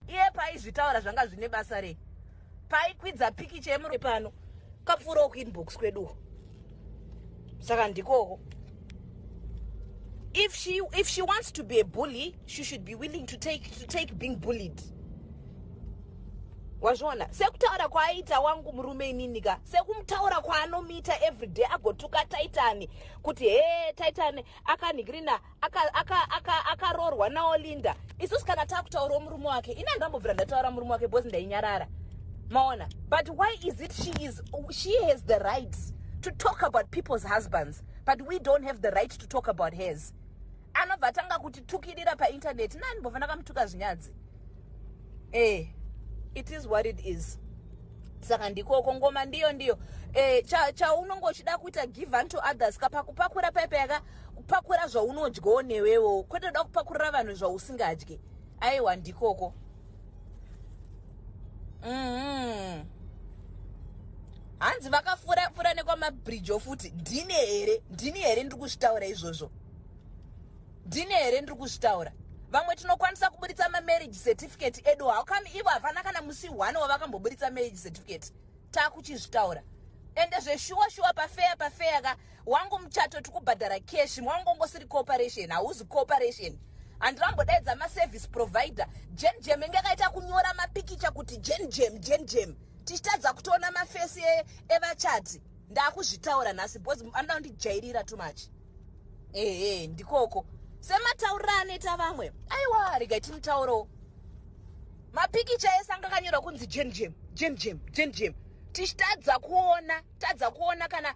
iye paizvitaura zvanga zvine basa rei paikwidza pikicha yemurume pano kapfuurawo kuinbox kweduwo saka ndikoko if she if she wants to be a bully she should be willing to take to take being bullied wazviona sekutaura kwaaita wangu murume inini ka sekumutaura kwaanomiita everyday agotuka taitani kuti hee taitani akanhikirina akaroorwa aka, aka, aka nawo linda isusu kana takutaurawo murume wake ini andambobvira ndataura murume wake bcause ndainyarara maona but why is it she is she has the right to talk about people's husbands but we don't have the right to talk about hers anobva atanga kutitukirira paintaneti nani mbova ndakamutuka zvinyadzi eh it is what it is saka ndikoko ngoma ndiyo ndiyo eh, chaunonga cha uchida kuita give unto others kapakupakura paipa yaka kupakura zvaunodyawo newewo kwete uda kupakurira vanhu zvausingadye aiwa ndikoko mm-hmm. hanzi vakafura fura nekwamabridge ofuti ndini here ndini here ndiri kuzvitaura izvozvo ndini here ndiri kuzvitaura vamwe tinokwanisa kuburitsa mamarriage certificate edu how come ivo havana kana musi one wavakamboburitsa marriage certificate takuchizvitaura ende zveshuwa shuwa pafeya pafeya ka wangu muchato tikubhadhara cash mwangu ongosiri cooperation hauzi cooperation handina kumbodaidza maservice provider jen jem inge akaita kunyora mapikicha kuti jen jem jen jem tichitadza kutoona mafesi e, evachati ndakuzvitaura nhasi because anoda kundijairira too much ehe ndikoko semataurira anoita vamwe aiwa regai timutaurawo mapikicha ese anga akanyorwa kunzi jen jem jen jem jen jem tichitadza kuona tadza kuona kana